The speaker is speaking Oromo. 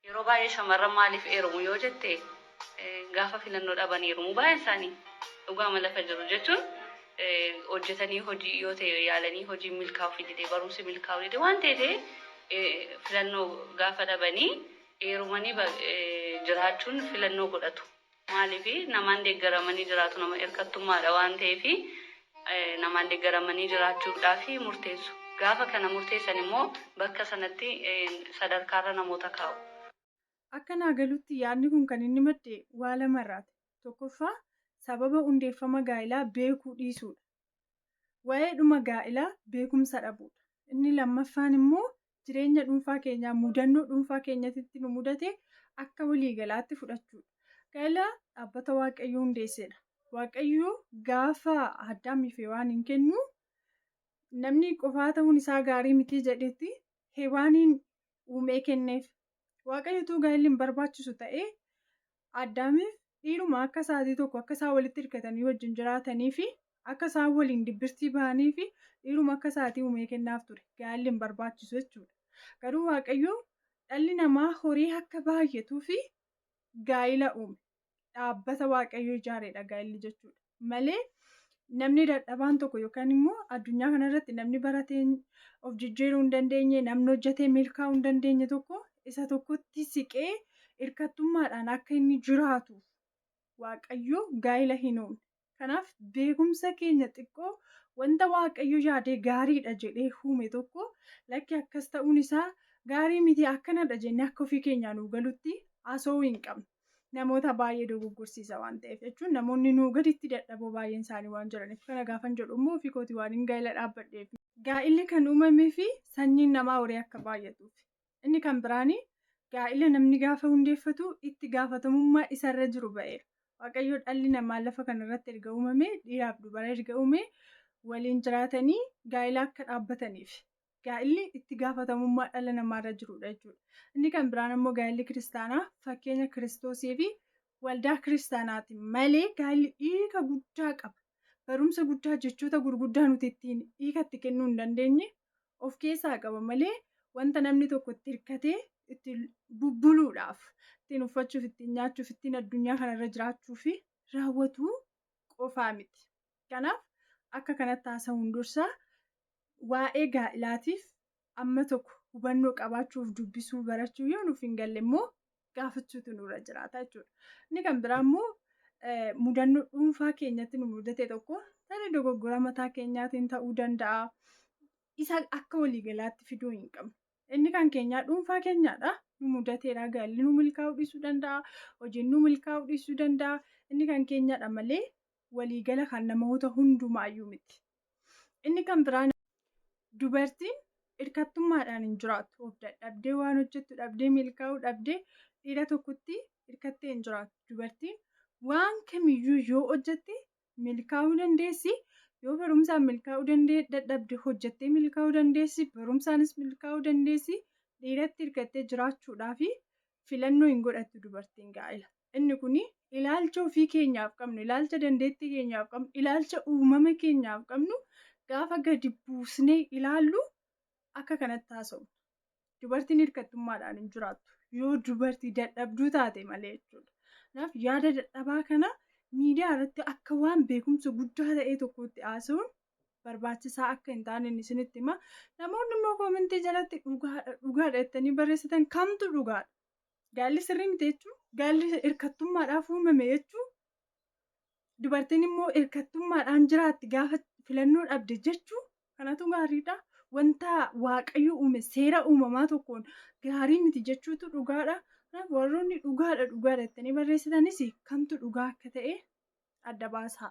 Yeroo baay'ee shamarran maaliif eerumu yoo jette gaafa filannoo dhaban eerumu baay'een isaanii dhugaama lafa jiru jechuun hojjetanii hojii yoo ta'e yaalanii hojiin milkaa'uuf didee barumsi milkaa'uu didee waan ta'e ta'e filannoo gaafa dhabanii eerumanii jiraachuun filannoo godhatu. Maaliif? Namaan deeggaramanii jiraatu nama irkattummaadha waan ta'eef namaan deeggaramanii jiraachuudhaaf murteessu. Gaafa kana murteessan immoo bakka sanatti sadarkaarra namoota kaa'u. Akka naa galutti yaadni kun kan inni madde waa lamarraati. Tokkoffaa sababa hundeeffama gaa'ilaa beekuu dhiisuudha. Waa'eedhuma gaa'ilaa beekumsa dhabuudha. Inni lammaffaan immoo jireenya dhuunfaa keenyaa mudannoo dhuunfaa keenyatitti nu mudate akka waliigalaatti fudhachuudha. Gaa'ila dhaabbata Waaqayyo hundeessedha. Waaqayyo gaafa Addaamii fi Hewaaniin kennu namni qofaa ta'uun isaa gaarii mitii jedhetti Hewaaniin uumee kenneef. Waaqayyotuu gaa'illi hin barbaachisu ta'ee Addaamiif dhiiruma akka isaatii tokko akka isaan walitti hirkatanii wajjin jiraatanii fi akka isaan waliin dibbirtii bahanii fi dhiiruma akka isaatii uumee kennaaf ture gaalli hin barbaachisu jechuudha garuu waaqayyo dhalli namaa horii akka baay'atuu fi gaa'ila uume dhaabbata waaqayyo ijaareedha gaa'illi jechuudha. malee namni dadhabaan tokko yookaan immoo addunyaa kanarratti namni baratee of jijjiiruu hin dandeenye namni hojjetee milkaa'uu hin dandeenye tokko isa tokkotti siqee hirkattummaadhaan akka inni jiraatuuf waaqayyo gaa'ila hin uumne. Kanaaf beekumsa keenya xiqqoo wanta waaqayyo yaadee gaariidha jedhee uume tokko lakki akkas ta'uun isaa gaarii miti akkanadha jennee akka ofii keenyaa nuu galutti haasa'uu hin qabnu. namoota baay'ee dogoggorsiisa waan ta'eef jechuun namoonni nuu gaditti dadhaboo baay'een isaanii waan jiraniif kana gaafan jedhu immoo ofii kooti waan hin gaa'ila dhaabbadheef. Gaa'illi kan uumamee fi sanyiin namaa horii akka baay'atuuf. Inni kan biraan gaa'ila namni gaafa hundeeffatu itti gaafatamummaa isarra jiru ba'eera. Waaqayyo dhalli namaa lafa kanarratti erga uumamee dhiiraaf dubara erga uumee waliin jiraatanii gaa'ila akka dhaabbataniif. gaa'illi itti gaafatamummaa dhala namaarra jirudha jechuudha. Inni kan biraan ammoo gaa'illi kiristaanaa fakkeenya kiristoosii fi waldaa kiristaanaati malee gaa'illi hiika guddaa qaba. Barumsa guddaa jechoota gurguddaa nuti ittiin hiika itti kennuu hin dandeenye of keessaa qaba malee wanta namni tokko itti hirkatee itti bubbuluudhaaf ittiin uffachuuf ittiin nyaachuuf ittiin addunyaa kanarra jiraachuu fi raawwatu qofaa miti. Kanaaf akka kanatti haasa'uun dursa waa'ee gaa'ilaatiif amma tokko hubannoo qabaachuuf dubbisuu barachuu yoo nuuf hin galle immoo gaafachuutu nurra jiraata jechuudha. Inni kan biraa immoo mudannoo dhuunfaa keenyatti nu mudate tokko tarii dogoggora mataa keenyaatiin ta'uu danda'a. Isa akka waliigalaatti fiduu hin qabnu. Inni kan keenyaa dhuunfaa keenyaadha. Nu mudateera gaalli nu milkaa'uu dhiisuu danda'a. Hojiin nu milkaa'uu dhiisuu danda'a. Inni kan keenyaadha malee walii gala kan namoota hundumaayyuu miti. Inni kan biraan dubartiin hirkattummaadhaan hin jiraattu. Of dadhabdee waan hojjettu dhabdee milkaa'uu dhabdee dhiira tokkotti hirkattee hin jiraattu. Dubartiin waan kamiyyuu yoo hojjette milkaa'uu dandeessi. Yoo barumsaan milkaa'uu dandee dadhabde hojjettee milkaa'uu dandeessi. Barumsaanis milkaa'uu dandeessi. Dhiiratti hirkattee jiraachuudhaaf filannoo hin godhattu dubartiin gaa'ela. Inni kun ilaalcha ofii keenyaaf qabnu, ilaalcha dandeettii keenyaaf qabnu, ilaalcha uumama keenyaaf qabnu gaafa gadi buusnee ilaallu akka kanatti haasofna. Dubartiin hirkattummaadhaan hin jiraattu. Yoo dubartii dadhabduu taate malee jechuudha. Kanaaf yaada dadhabaa kana miidiyaa irratti akka waan beekumsa guddaa ta'ee tokkotti haasa'uun barbaachisaa akka hin taane isinitti hima. Namoonni immoo koomentii jalatti dhugaadha dhugaadha jettanii barreessitan kamtu dhugaadha? Gaalli sirrii miti jechuun gaalli hirkattummaadhaaf uumame jechuun dubartiin immoo hirkattummaadhaan jiraatti gaafa filannoo dhabde jechuun kanatu gaariidha. Wanta waaqayyo uume seera uumamaa tokkoon gaarii miti jechuutu dhugaadha. Kanaaf warroonni dhugaadha dhugaadha jettanii barreessitanis kamtu dhugaa akka ta'e adda baasaa.